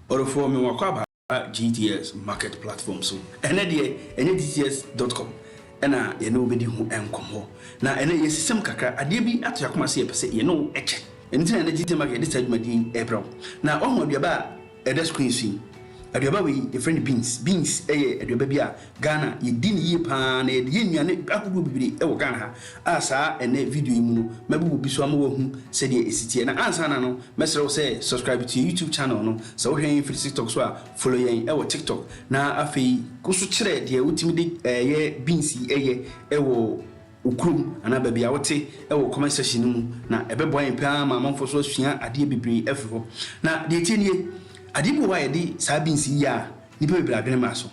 Ɔdɔfoɔ, mewɔ akwaaba GTS market platform so. Ɛnnɛ deɛ, ɛnyɛ gts dot com na yɛne wo bɛdi ho nkɔmmɔ. Na ɛnnɛ yɛasisam kakra, adeɛ bi ato yɛn akoma sɛ yɛpɛ sɛ yɛne wo kyɛ. Ɛno nti na ɛnnɛ GTS market yɛde saa dwumadie yi rebrɛ wo. Na woahu aduaba a ɛda screen so yi? Aduaba wei yɛfrɛ no beans. Beans yɛ aduaba bi a Ghana yɛdi no yie paa na yɛde yɛ nnuane ahodoɔ bebree wɔ Ghana ha a saa ɛnɛ video yi mu no mɛbobɔ bi so ama woahu sɛdeɛ ɛsi teɛ na ansa na no mɛsrɛ wo sɛ subscribe to yɛn YouTube channel no sɛ wohwɛ yɛn firi TikTok so a follow yɛn wɔ TikTok na afei kɔ so kyerɛ deɛ wotumi de yɛ beans yi yɛ wɔ wo kurom anaa baabi a wote wɔ comment section no mu na ɛbɛboa yɛn paa ma amanfoɔ so asua adeɛ bebree afiri hɔ na deɛ ɛtie nie adeɛ bi wɔ hɔ a yɛde saa beans yi yɛ a nnipa bebree adwene mmra so.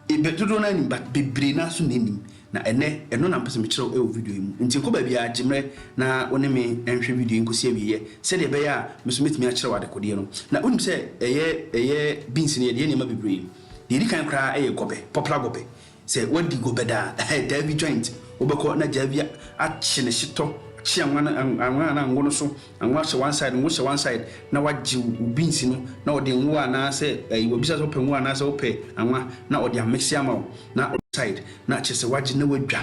Ebɛ dodoɔ no ara nim but bebree no ara nso na ɛnnim na ɛnɛ ɛno na mpɛsɛ mekyerɛw ɛwɔ video yi mu nti nkɔ baabiara gyemmerɛ na wo ne me nhwɛ video yi nkɔsi awieɛ sɛdeɛ ɛbɛyɛ a me nso mɛtumi akyerɛw adekodeɛ no na wonim sɛ ɛyɛ ɛyɛ beans no yɛde yɛ nneɛma bebree deɛ ɛdi kan koraa ɛyɛ gɔbɛ popular gɔbɛ sɛ woadi gɔbɛ da a ɛhɛ daabi joint wobɛkɔ na daabi akye ne hyetɔ kye anwa no anwa anaa ngo no so Ngo ahyɛ one side, ngo hyɛ one side na wagye wo beans no na ɔde ngo anaa sɛ ɛyi wabisa sɛ wopɛ ngo anaa sɛ wopɛ anwa na ɔde amese ama wo na side na kyerɛ sɛ wagye na wadwa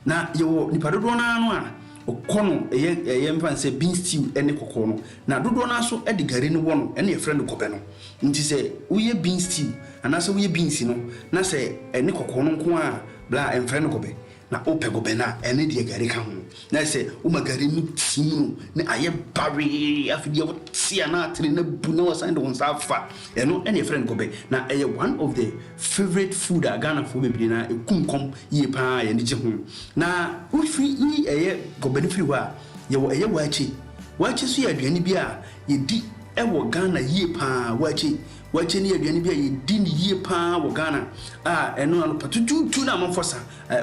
na yɛwɔ nipa dodoɔ naa no a ɔkɔ no ɛyɛ ɛyɛ mfa no sɛ beans stew ɛne kɔkɔɔ no na dodoɔ naa so ɛde gari no wɔ no ɛne yɛfrɛ no gɔbɛ no nti sɛ woyɛ beans stew anaa sɛ woyɛ beans no na sɛ ɛne kɔkɔɔ no nko a bla ɛmfrɛ no gɔbɛ Na wopɛ bobɛn a, ɛno deɛ gari ka ho. Na sɛ woma gari no te mu no na ayɛ bawee, afei deɛ wote a na atene no abu na wasan de wo nsa afa, ɛno na yɛfrɛ no bobɛ. Na ɛyɛ one of the favourite food a Ghanafoɔ bebree no ara, ɛku nkɔm yie pa ara a yɛn ani gye ho. Na wofiri yi ɛyɛ bobɛ no firi hɔ a, yɛwɔ ɛyɛ waakye. Waakye nso yɛ aduane bi a yɛdi wɔ Ghana yie pa ara. Waakye, Waakye no yɛ aduane bi a yɛdi no yie pa ara wɔ Ghana a ɛno anɔpa tutuutu na amanfoɔ sa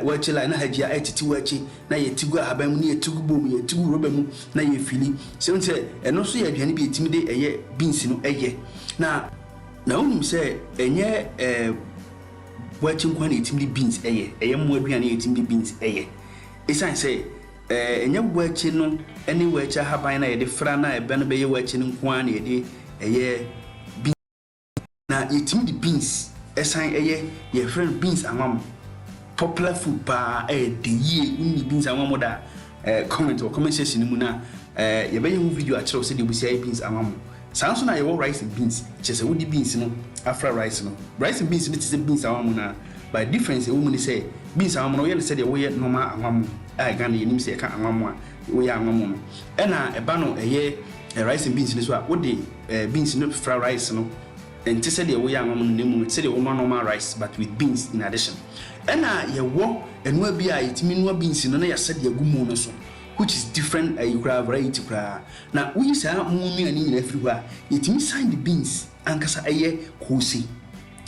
waakye line na hagyi a ɛretete waakye na yɛte gu ahaban mu ne yɛte gu bowl mu, yɛte gu rɔba mu na yɛrefili. Sɛ wohu sɛ ɛno nso yɛ aduane bi a yɛtumi de ɛyɛ beans no yɛ na. Na wonim sɛ ɛnyɛ waakye nko ara na yɛtumi de beans yɛ, ɛyɛ mmoa aduane a yɛtumi de beans yɛ. Ɛsiane sɛ Ɛnyɛ wakyi no ne wakyi ahaban no a yɛde fra no a ɛbɛ no bɛyɛ wakyi no nko ara na yɛde yɛ beans. Na yɛtumi de beans san yɛ, yɛfrɛ no beans anwammo. Popular food pa ara, ɛdɛ yie. Wonni beans anwammo da a, comment wɔ comment section no mu na yɛbɛyɛ ho video akyerɛ wo sɛdeɛ wobɛsi ayɛ beans anwammo. Saa nso na yɛwɔ rice and beans, kyerɛ sɛ wode beans no afra rice no. Rice and beans no te sɛ beans ahwammo no ara, but difference a ɛwɔ mu ne sɛ beans ahwammo no woyɛ no sɛdeɛ woyɛ normal ahwammo a Ghana yɛnim sɛ yɛka anwammo a woyɛ anwammo no, ɛna ɛba no ɛyɛ rice and beans no nso a wode beans no fra rice no, ɛnte sɛdeɛ woyɛ anwammo no na mmom ɛte sɛdeɛ wonoa normal rice but with beans in addition. Ɛna yɛwɔ ɛnoa bi a yɛtumi noa beans no na yɛasɛ de agu mu no nso which is different ayi koraa variety koraa. Na woyi saa mmoa nnuane nyinaa firi hɔ a, yɛtumi san de beans ankasa yɛ koose.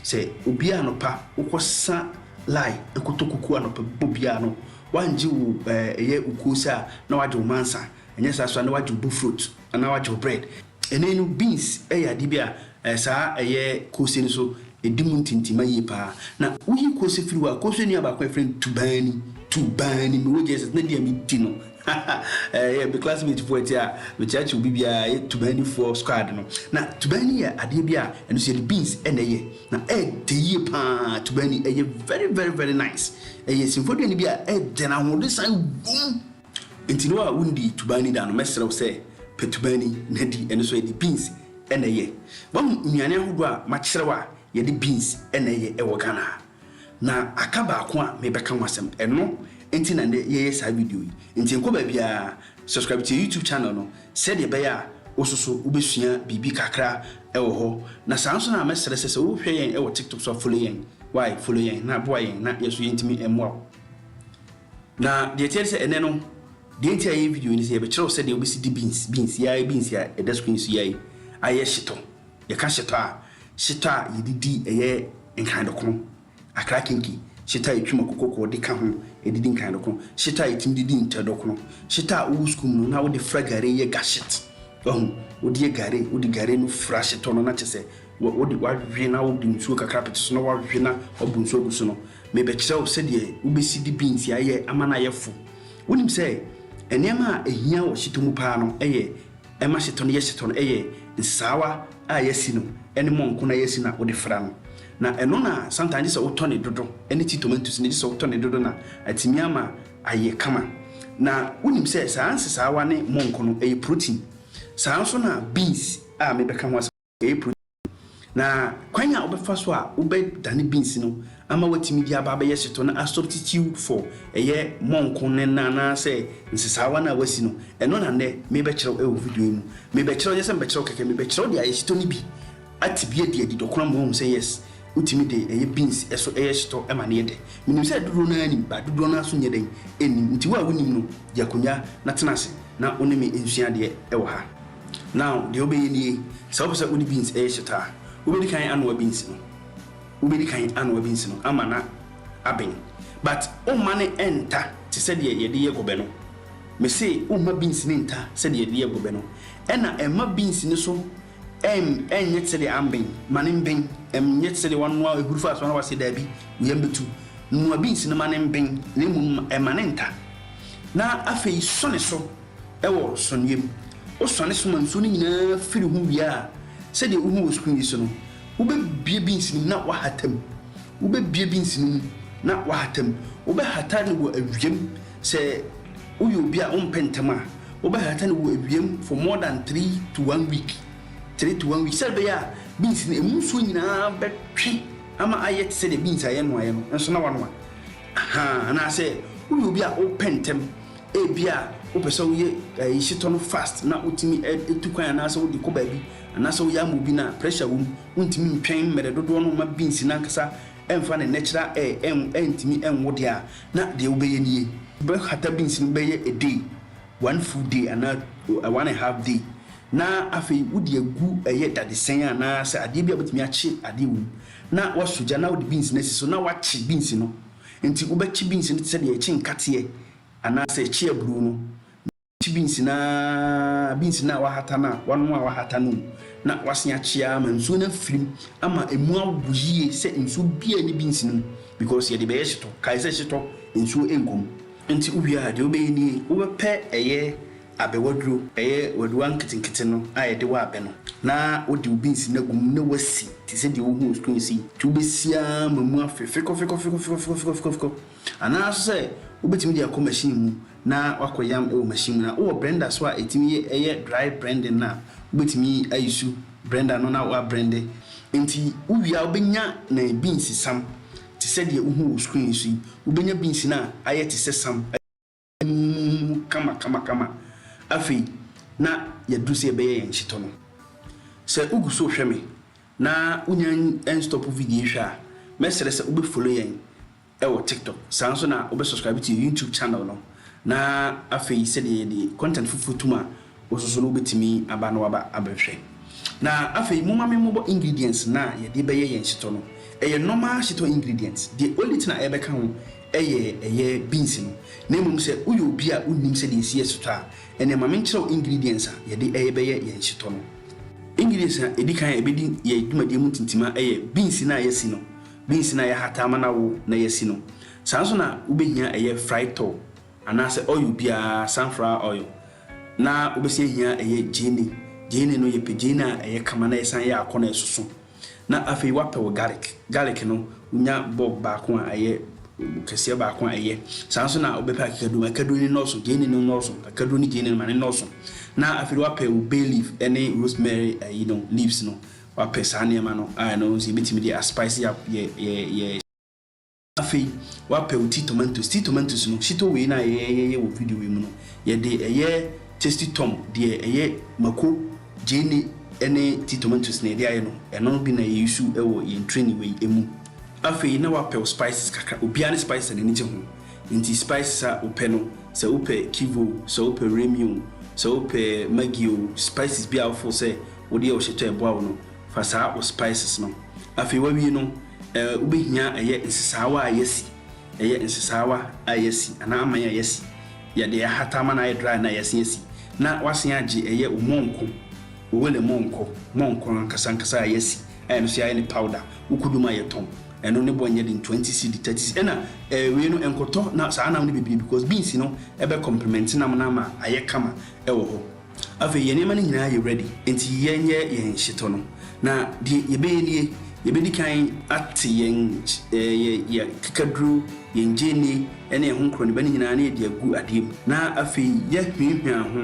Sɛ obi a anɔpa wokɔsa lae kɔtɔ kuku anɔpa bɔ biara no, woangye wo ɛyɛ wo koose a, na woagye wo mansa. Anyɛ saa nso a, na woagye wo bofrot anaa woagye wo bread. Ɛnnɛ no, beans yɛ adeɛ bi a saa ɛyɛ koose no nso di mu ntintimma yie pa ara. Na woyi koose firi hɔ a, koose nnuaba baako a wɔfrɛ no tubani, tubani, mewɔ gyee sɛ na di a medi no Ɛyɛ me classmate foɔ ti a mekyerɛkyerɛ obi biara ɛyɛ Tubani foɔ squad no. Na Tubani yɛ adeɛ bi a ɛno nso yɛde beans na ɛyɛ. Na ɛdɛ yie paa Tubani ɛyɛ very very very nice. Ɛyɛ simfoɔ aduane bi a ɛdɛ na ahoɔden san wɔ mu. Nti wo a wondii Tubani da no mɛsrɛ wo sɛ pɛ Tubani na di. Ɛno nso yɛde beans na ɛyɛ. Wahu nnuane ahodoɔ a makyerɛ wo a yɛde beans na ɛyɛ wɔ Ghana ha. Na aka baako a mebɛka ho asɛm, ɛno nti na nnɛ yɛyɛ saa video yi. Nti nkɔ baabiara, subscribe to yɛn YouTube channel no sɛdeɛ ɛbɛyɛ a wo nso so wobɛsua biribi kakra wɔ hɔ. Na saa nso na mɛsrɛ sɛ sɛ wohwɛ yɛn wɔ TikTok so a follow yɛn, wai follow yɛn na boa yɛn na yɛn nso yɛntumi mmoa wo. Na deɛ ɛteɛ ne sɛ ɛnɛ no, deɛ nti a yɛyɛ video yi ne sɛ yɛbɛkyerɛ wo sɛdeɛ wobɛsi di beans, beans, yɛa beans a ɛda screen so yɛa yi ayɛ hyetɔ. Yɛka hyetɔ a, hyetɔ a yɛde di ɛyɛ nkandɔkono, akra kinki, hyetɔ a yɛtwi mako kɔkɔɔ de ka ho de di nkandɔkono, hyetɔ a yɛtumi de di ntɛdɔkono, hyetɔ a wowɔ sukuu mu no na wode fra gari yɛ gashit. Wahu? Wode yɛ gari, wode gari no fra hyetɔ no na kyerɛ sɛ wode wawe na wode nsuo kakra apete so na wawe na wabu nsuo agu so no. Merebɛkyerɛ wo sɛdeɛ wobɛsi de beans ayɛ ama no ayɛ fo. Wonim sɛ nneɛma a ɛhia wɔ hyetɔ mu paa no yɛ Ɛma hyetɔ no yɛ hyetɔ no yɛ nsesaawa a yɛasi no ne mɔnko no a yɛasi no a wode fra no. Na ɛno na sometimes gye sɛ wotɔ no dodo ne ti tomantos no gye sɛ wotɔ no dodo na atumi ama ayɛ kama. Na wonim sɛ saa nsesaawa ne mɔnko no ɛyɛ protein. Saa ara nso na beans a mebɛka ho asɛm. whey protein, na kwan a wobɛfa so a wobɛdane beans no ama watumi de aba abɛyɛ hyetɔ no a substitute for ɛyɛ mɔnko no na anaasɛ nsesaawa no a wasi no, ɛno na nnɛ merebɛkyerɛw wɔ video yi mu. Merebɛkyerɛw, nyɛ sɛ mebɛkyerɛw kɛkɛ, merebɛkyerɛw de ayɛ hyetɔ no bi atebea adi adi dɔkoro ama wahu sɛ yes, wotumi de ɛyɛ beans so yɛ hyetɔ ma no yɛ dɛ. Menim sɛ dodoɔ no ara nim, but dodoɔ no ara nso nyɛ dɛn nnim, nti wo a wonim no, gye akonnwa na tena ase na wo ne me nsua adeɛ wɔ ha. Now, deɛ wobɛyɛ nie, sɛ wopɛ sɛ wode beans yɛ hyeta a, wobɛdi kan anoa beans no, wobɛdi kan anoa beans no ama no aben, but womma no nta te sɛ deɛ yɛde yɛ gɔbɛ no, mese womma beans no nta sɛ deɛ yɛde yɛ gɔbɛ no, ɛna mma beans no so nyɛ te sɛ deɛ amben, ma no mben, nyɛ te sɛ deɛ woanoa ahuru fa so na woase daabi, wo yam bɛtu, noa beans no ma no mben na mmom ma no nta, na afei sɔ ne so. wɔ sɔneɛ mu. Wosɔne so ma nsuo no nyinaa firi ho wie a, sɛdeɛ wohu wɔ sukuu yi so no, wobɛbue beans no mu na woahata mu. Wobɛbue beans no mu na woahata mu. Wobɛhata no wɔ awia mu. Sɛ woyɛ obi a wompɛ ntɛm a, wobɛhata no wɔ awia mu for more than three to one week, three to one week, sɛdeɛ ɛbɛyɛ a beans no, ɛmu nsuo nyinaa bɛtwe ama ayɛ te sɛdeɛ beans a yɛnoaeɛ no nso na woanoa. Ahaa, anaasɛ woyɛ obi a wopɛ ntɛm. Ebia wopɛ sɛ woyɛ ayehyetɔ no fast na wotumi tu kwan anaasɛ wode kɔ baabi anaasɛ woyɛ ama obi no a, pressure wom. Wontumi ntwɛn mmere dodoɔ no mma beans no ankasa mfa ne natural air antumi nwo deɛ a, na deɛ wobɛyɛ nie. Wobɛhata beans no bɛyɛ a day, one full day anaa one and half day na afei wode agu ɛyɛ dadesɛn anaasɛ adeɛ bi a wobɛtumi akye adeɛ wɔ mu na woasɔ gya na wode beans no asi so na woakye beans no. Enti wobɛkye beans no te sɛ deɛ yɛkye nkateɛ anaasɛ yɛkye aburoo no. Mekye beans no ara, beans no a wɔahata no a, wɔanoa a wɔahata no o, na wɔasen akye ara ma nsuo no afiri mu ama ɛmu awo yie sɛ nsuo biara nni beans no mu because yɛde bɛyɛ hyetɔ. Kae sɛ hyetɔ, nsuo nkɔ mu. Enti wowie a, deɛ wobɛyɛ nie, wobɛpɛ ɛyɛ abɛ waduro. Ɛyɛ wadua nketenkete no a yɛde wɔ abɛ no. Na wode wo beans no agu mu na wasi te sɛ deɛ wohu wɔ screen so yi. Nti wobɛsi ara ma mu afe fekɔfekɔfekɔfekɔfekɔfekɔ. Anaa nso sɛ wobɛtumi de akɔ machine mu na wakɔ yam wɔ machine mu. Na wowɔ brɛnda nso a ɛtumi yɛ ɛyɛ dry brɛnding no a, wobɛtumi ayusu brɛnda no na wabrɛnde. Nti wowie a wobɛnya ne beans sam te sɛ deɛ wohu wɔ screen so yi. Wobɛnya beans no a ayɛ te sɛ sam. muhumuhu kamakamakama. Afei, na yɛadu sɛ yɛbɛyɛ yɛn hyetɔ no. Sɛ wugu so rehwɛ me na wunnya nnstɔpo video yi hwɛ a, mɛsrɛ sɛ wobɛfollow yɛn wɔ TikTok. Saa ara nso na wobɛsubscribe to yɛn YouTube channel no. Na afei, sɛdeɛ yɛde content foforɔ tom a, wosusu no wobetumi aba no aba abɛhwɛ. Na afei momma me mmobɔ ingredients no a yɛde bɛyɛ yɛn shito no. Ɛyɛ normal shito ingredients. Deɛ only thing a ɛbɛka ho yɛ ɛyɛ beans no. Na mmom sɛ woyɛ obi a wonnim sɛdeɛ esi yɛ shito a, ɛneɛ ma menkyerɛ wo ingredients a yɛde ɛrebɛyɛ yɛn shito no. Ingredients a edi kan a ɛbedi yɛn dwumadie mu ntintima yɛ beans no a yɛasi no, beans no a yɛahata ama no awo na yɛasi no. Saa ara nso na wobehia ɛyɛ fried tol anaasɛ oil biara, sunflower oil. Na wobɛsi ahia a ɛyɛ gyeene. Gyeene no, yɛpɛ gyeene a ɛyɛ kama na ɛsan yɛ akɔ na ɛsoso. Na afei woapɛ wo garlic. Garlic no, wonya bulb baako a ɛyɛ kɛseɛ baako a ɛyɛ. Saa nso na wobɛpɛ akakaduro. Akakaduro no nnɔɔso, gyeene no nnɔɔso. Akakaduro ne gyeene no, ma no nnɔɔso. Na afei no, woapɛ wo bay leaf ne rosemary ayi no, leaves no. Woapɛ saa nneɛma no a, ɛno nso yɛbɛtumi de a spice yɛ, yɛ, yɛ, yɛ. Afei wapɛ wo tea tomatoes. Tea tomatoes no, shito wei no a yɛyɛyɛyɛ wɔ video yi mu no, yɛde ɛyɛ tasty tom, deɛ ɛyɛ mako, gyeene ne tea tomatoes na yɛde ayɛ no. Ɛno bi na yɛ use wɔ yɛn training wei ɛmu. Afei na wapɛ wo spices kakra. Obiara ne spices a n'ani gye ho. Nti spices a wopɛ no, sɛ wopɛ kiv o, sɛ wopɛ remi o, sɛ wopɛ maggi o, spices biara a wo feel sɛ wode yɛ wo shito a ɛboa wo no, fa saa wo spices no. Afei wawie no. Ɛɛ, wobehia ɛyɛ nsesaawa a yɛasi, ɛyɛ nsesaawa a yɛasi anaa aman a yɛasi, yɛde ahata ama no ayɛ dry na yɛasen asi, na woasen agye ɛyɛ wo mɔnkɔ, wo wele mɔnkɔ, mɔnkɔ ankasa ankasa a yɛasi a ɛno nso yɛayɛ no powder, wokodu ma yɛtɔn, ɛno ne bɔ nyɛ den, twenty cedi, thirty cedi, ɛna ɛɛ wei no ɛnkɔtɔ na saa nam no bebree because beans no ɛbɛ complement nam no ama ayɛ kama ɛwɔ hɔ. Afei yɛn nneɛma no nyinaa yɛ ready, enti yɛnyɛ yɛn nhyetɔ no. Na deɛ yɛbɛyɛ nie, yɛbɛdi kan ate yɛn yɛn kekaduro, yɛn gyeene ne ɛho nkorɔniba no nyinaa na yɛde agu adeɛ mu, na afei yɛahwiahwia ho.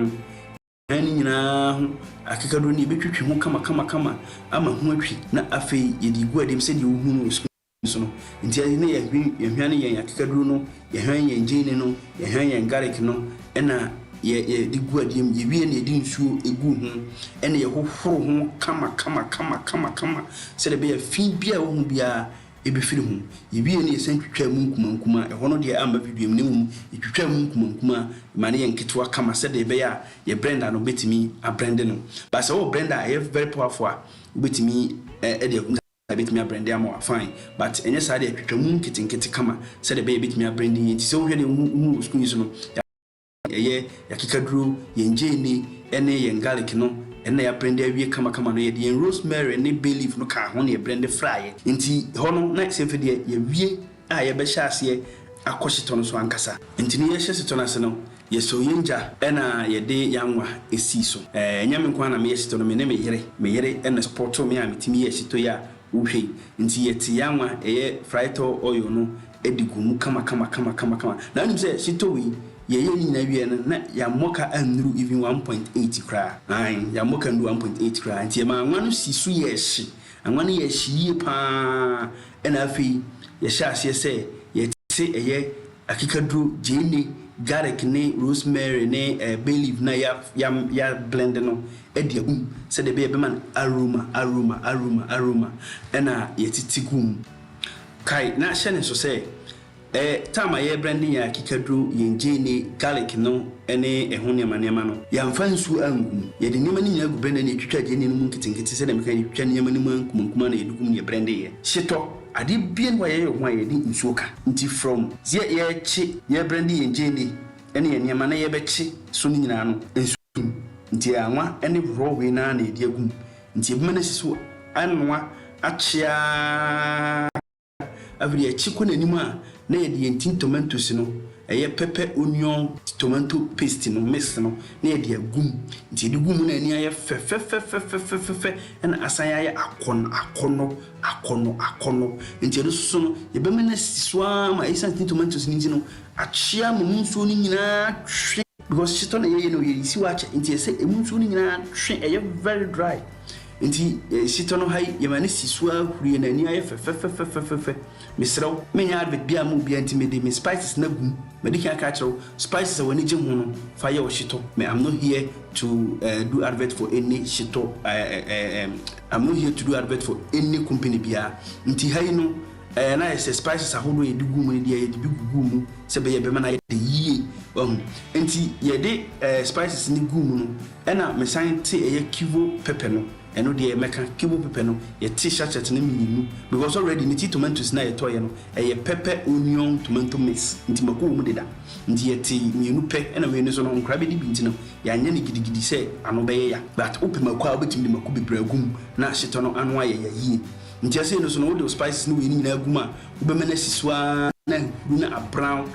Yɛahwiahwia ne nyinaa ho, akekaduro no yɛbɛtwitwi ho kamakamakama ama ho atwi, na afei yɛde agu adeɛ mu sɛdeɛ wohunu no wɔ sukuu. nso no, nti ɛne na yɛhwen, yɛhwane yɛn akekaduro no, yɛhwane yɛn gyeene no, yɛhwane yɛn garlic no, ɛna yɛ, yɛde gu adeɛ mu, yɛwie na yɛde nsuo gu ho, ɛna yɛhohoro ho kama, kama, kama, kama, kama, sɛdeɛ ɛbɛyɛ a fi biara a ɛwɔ ho biara ɛbɛfiri ho. Yɛwie na yɛsan twitwaa mu nkumaa nkumaa, ɛhɔ no deɛ amma videoɛ mu, na mmom yɛtwitwaa mu nkumaa nkumaa, yɛma no yɛ nketewa kama sɛdeɛ ɛbɛyɛ a yɛ blender no bɛtumi ablende no. But sɛ wowɔ blender a ɛyɛ very powerful a, wobɛtumi de agu. Ebetumi abren de ama wo a, fine. But ɛnyɛ saa deɛ, twitwa mu nketenkete kama sɛdeɛ ɛbɛyɛ ebetumi abren de nyɛ nti. Sɛ wohwɛ deɛ wohu wohu wɔ sukuu yi so no, yɛ abren ɛyɛ, yɛ akekaduro, yɛn gyeene ne yɛn garlic no ɛno na yɛ abren de awie kamakama no. Yɛde yɛn rosemary ne bay leaf no kaa ho na yɛ bren de fraeɛ. Nti hɔ no na sɛ afei deɛ yɛ awie. a yɛbɛhyɛ aseɛ akɔ hyetɔ no so ankasa. Nti no yɛhyɛ hyetɔ no ase no, yɛsɔɔ yɛn gya na yɛde yɛn anwa sii so. Ɛnyɛ me nko ara na meyɛ hyetɔ no, me ne me yere. Me yere na supportoo me a metumi yɛɛ hyetɔ yi a wohwɛ yi. Nti yɛte yɛn anwa, ɛyɛ frytɔ oil no de guu mu kamakamakamakama. Na wonim sɛ hyetɔ wei, yɛyɛɛ ne nyinaa wieeɛ no, na yɛn mmɔka annuru even one point eight koraa. Aane, yɛn mmɔka annuru one point eight koraa. Nti yɛmaa anwa no sii so yɛɛ hye. Anwa no yɛɛ hye yie pa ara. Ɛnna afei yɛhyɛɛ aseɛ sɛ yɛte ɛyɛ akekaduro, gyeene, garlic ne rosemary ne ɛɛ bay leaf no a yɛa yɛa yɛablɛnde no de agu mu sɛdeɛ ɛbɛyɛ a ɛbɛma no aroma, aroma, aroma, aroma, ɛnna yɛtete guu mu. Kae na hyɛ no nso sɛ, E Tam a yɛrebrande yɛn akekaduro, yɛn gyeene, garlic no ne ɛho nneɛma nneɛma no. Yɛamfa nsuo angu mu. Yɛde nneɛma no nyinaa gu brɛndɛ na yɛtwitwaa gyeene no mu nketenkete sɛdeɛ meka no, yɛtwitwaa nneɛma no mu nkumankumaa na yɛde gu mu na yɛbrɛndeeɛ. Hyetɔ, Adeɛ biara nni hɔ a yɛyɛ ho a yɛde nsuo ka. Nti from sɛ yɛrekye, yɛrebrɛnde yɛn gyeene ne yɛn nneɛma na yɛrebɛkye so no nyinaa no, nsuo nni mu. Nti anwa ne raw wei no ara na yɛde agu mu. Nti yɛbɛma no asi so anoa akye ara. Afei akyi kɔ n'anim a na yɛde yɛn tin tomatoes no, ɛyɛ pɛpɛ onion tomato paste no mix no na yɛde agu mu. Nti yɛde gu mu na ani ayɛ fɛ fɛfɛfɛfɛfɛfɛfɛ na asan ayɛ akɔnnɔ akɔnnɔ akɔnnɔ akɔnnɔ. Nti ɛno nso so no, yɛbɛma no asi so ara ma ɛsiane tin tomatoes no nti no, akyea ma mu nsuo no nyinaa atwe. Because shito na yɛyɛ no, yɛresi hɔ akyɛ nti ɛsɛ emu nsuo no nyinaa twe, ɛyɛ very dry. Enti sitɔ no ha yi, yɛma no si so ara huri, na ani ayɛ fɛ fɛfɛfɛfɛfɛfɛ. Mesrɛ wo, menyɛ advert biara mma obiara nti mede me spices no agu mu. Madi kan aka akyerɛ wo, spices a w'ani gye ho no, fa yɛ wo shito. Me I'm not here to eh do advert for any shito eh eh eh eh I'm not here to do advert for any company biara. Nti ha yi no, eh na ayɛ sɛ spices ahodoɔ a yɛde guu mu no deɛ yɛde bi guguu mu sɛ ɛbɛyɛ a ɛbɛma no ayɛ dɛ yie, wahu. Enti yɛde eh spices no guu mu no, Ɛna me san te ɛyɛ kivo pepɛ no ɛno deɛ mɛka kivo pepɛ no yɛte sachet no mmienu because already mete tomantos no a yɛtɔeɛ no ɛyɛ pɛpɛ onion tomanto mix nti mako wɔ mu deda nti yɛte mmienu pɛ ɛna wei no nso no nkora bɛdi bi nti no yɛanyɛ no gidigidi sɛ ano bɛyɛ ya but wopɛ mako a wobɛtumi de mako bebree agu mu na ahyetɔ no ano ayɛ ya yie nti ɛsei no nso no wode wo spices ne wei no nyinaa agu mu a wobɛma no asi so ara na ahuru no abrown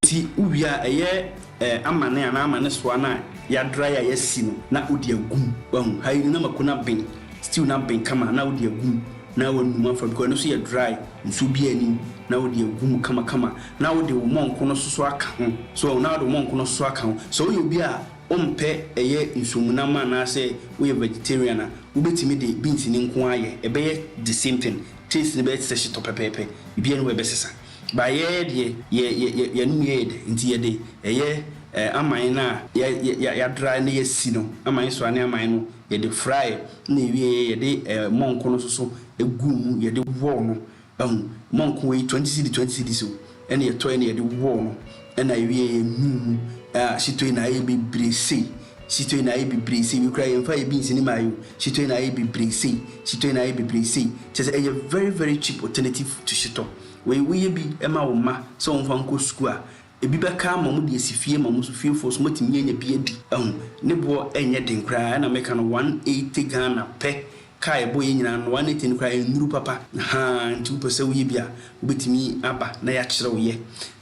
nti wowie a ɛyɛ Ɛɛ amane anaa amane soa no a yadry a yasi no na wode agu mu wahu ha yi no na mako no aben stew no aben kama na wode agu mu na wanum afa because ɛno nso yɛ dry nsuo biaa nni mu na wode agu mu kama kama na wode wo mɔnko no soso aka ho so na wode wo mɔnko no soso aka ho sɛ woyɛ obi a wompɛ ɛyɛ nsuomu nam anaasɛ woyɛ vegetarian a wobɛtumi de beans no nko ara ayɛ ɛbɛyɛ the same thing taste no bɛyɛ te sɛ hyetɔ pɛpɛɛpɛ biribiaa nni hɔ a ɛbɛsesa Ba yɛɛ deɛ yɛ yɛ yɛ yɛnom yɛɛ dɛ nti yɛde ɛyɛ ɛɛ aman no a yɛ yɛ yɛ yɛadra na yɛasi no aman so a ne aman no yɛde fraɛ na ɛwieɛ yɛde ɛɛ mɔnko no nso so guu mu yɛde wɔɔ no ahu mɔnko wei twenty cedi twenty cedis o ɛna yɛtɔɛ na yɛde wɔɔ no Ɛna ewie yɛ nuu mu a shitoi na ayɛ bebree sei shitoi na ayɛ bebree sei wei koraa yɛn fa yɛ beans ne mayɛ o shitoi na ayɛ bebree sei shitoi na ayɛ bebree sei kyerɛ sɛ ɛyɛ very very cheap alternative to shitɔ wei wo yɛ bi ma wo mma sɛ wɔn fa nkɔ sukuu a ebi bɛka ama wɔn de asi fie ma wɔn nso fiefoɔ nso wɔatumi anya bi adi ɛho ne boɔ ɛnyɛ den koraa ɛna meka no one eighty Ghana pɛ Car a ɛbɔ yɛn nyinaa no one ten koraa ɛnnuru papa haa nti wopɛ sɛ woyɛ bi a wobɛtumi aba na yɛakyerɛ wo yɛ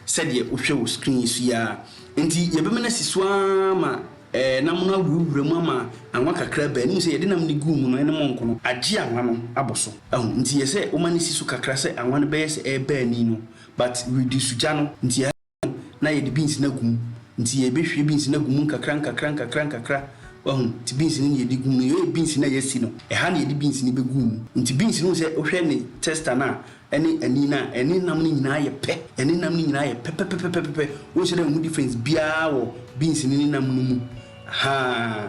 sɛdeɛ wohwɛ wɔ screen yi so yi ara nti yɛbɛma no asi so ara ma ɛɛ nam no awurawura mu ama anwa kakra bɛ anim sɛ yɛde nam no guu mu no ɛne mɔnko no agye anwa no abɔ so ahu nti yɛ sɛ woma no si so kakra sɛ anwa no bɛyɛ sɛ ɛreba ani no but reduce gya no nti na yɛde beans no agu mu. Nti yɛbɛhwie beans no agu mu nkakra nkakra nkakra nkakra. Wahu? Nti beans no na yɛde gu mu no. Yei yɛ beans no a yɛasi no. Ɛha na yɛde beans no bɛgu mu. Nti beans no wohu sɛ wohwɛ ne tester no a, ɛne ani no a, ɛne nam no nyinaa yɛ pɛ. Ɛne nam no nyinaa yɛ pɛpɛpɛpɛpɛpɛ. Wonhyɛ da nhu difference biara wɔ beans no ne nam no mu. Ahaa.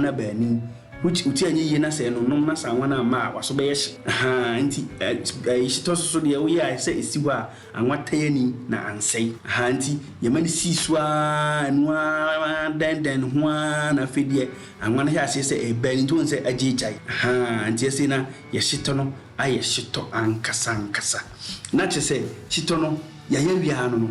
na baanu which wo ti anyɛ yie na sɛ ɛno nom na sɛ anwa no amma a waso bɛyɛ hye ahaa nti ɛyi hye tɔ so so deɛ woyɛ a sɛ ɛsi hɔ a anwa tan ani na ansɛe ahaa nti yɛma no sii so aa ɛno aa dɛn dɛn no ho aa na afei deɛ anwa no hɛ aseɛ sɛ ɛɛbɛn nti wohu sɛ agye gyae ahaa nti ɛsei na yɛ hye tɔ no ayɛ hye tɔ ankasa ankasa na kyerɛ sɛ hye tɔ no yɛayɛ awie aa no no.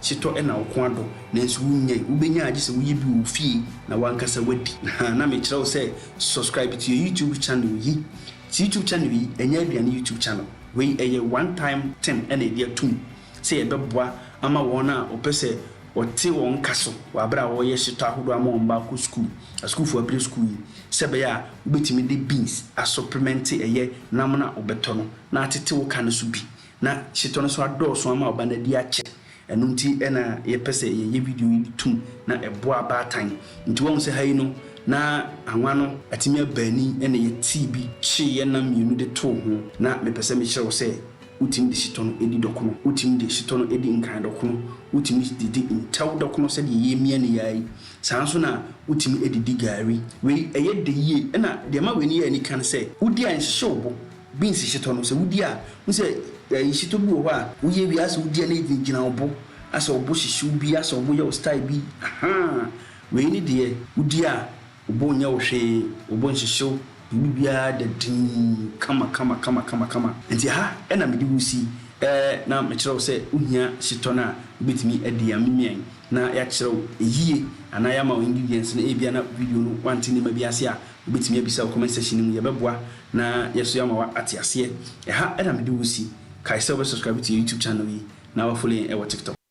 Setɔ na wo kɔn adɔ, nanso wunnyae. Wubenya a, gye sɛ woyɛ bi wɔ wo fie na w'ankasa woadi. Hã, na mekyerɛ wo sɛ subscribe to yɛn YouTube channel yi. Te YouTube channel yi, ɛnyɛ aduane YouTube channel. Wei ɛyɛ one time thing na yɛde atom sɛ yɛbɛboa ama wɔn a wɔpɛ sɛ wɔte wɔn nka so wɔ bere a wɔreyɛ setɔ ahodoɔ ama wɔn mma akɔ sukuu, asukuufo abire sukuu yi, sɛ ɛbɛyɛ a wobetumi de beans asɔplemɛnte ɛyɛ nam no a wobɛtɔ no na atete wo ka no so bi. Na hyetɔ no nso adɔɔso ama ɔba no adi akyɛ. Ɛno nti na yɛpɛ sɛ yɛyɛ video yi de tum na ɛboa abaatan. Nti woahu sɛ ha yi no na anwa no atumi aba ani na yɛtee bi kyeeɛ nam mmienu de too ho. Na mepɛ sɛ mekyerɛ wo sɛ wotumi de hyetɔ no di dɔkono, wotumi de hyetɔ no di nkran dɔkono, wotumi de di ntɛw dɔkono sɛdeɛ yɛremia no yi ara yi. Saa ara nso na wotumi de di gari. Wei ɛyɛ dɛ yie. Ɛna deɛ ɛma wei no yɛ anika ne sɛ, wodi a ɛnhyehye wo bo. Beans hyetɔ no sɛ wodi a, hu sɛ ɛɛ hyetɔ bi wɔ hɔ a woyɛ wie asɛ wodi a na egyinagyina wo bo, asɛ wo bo hyehye wo bi, asɛ wo bo yɛ wo style bi, ahaa, wei ne deɛ wodi a wo bo nyɛ wo hwee, wo bo nhyehye wo, wo biribiara da dinn kama kama kama kama kama. Nti ɛha na mede wo si ɛɛ na mekyerɛ wo sɛ wohia hyetɔ no a wobɛtumi adi a memian na yɛakyerɛ wo ɛyie anaa yɛama wo ingredients no, ɛbia na video no woante nneɛma bi ase a wobɛtumi abisa wɔ comment section no mu, yɛbɛboa Na yɛso yɛama wo ate aseɛ. Ɛha na mede wo si. Kae sɛ wobɛ subscribe to yɛn YouTube channel yi na wa follow yɛn wɔ TikTok.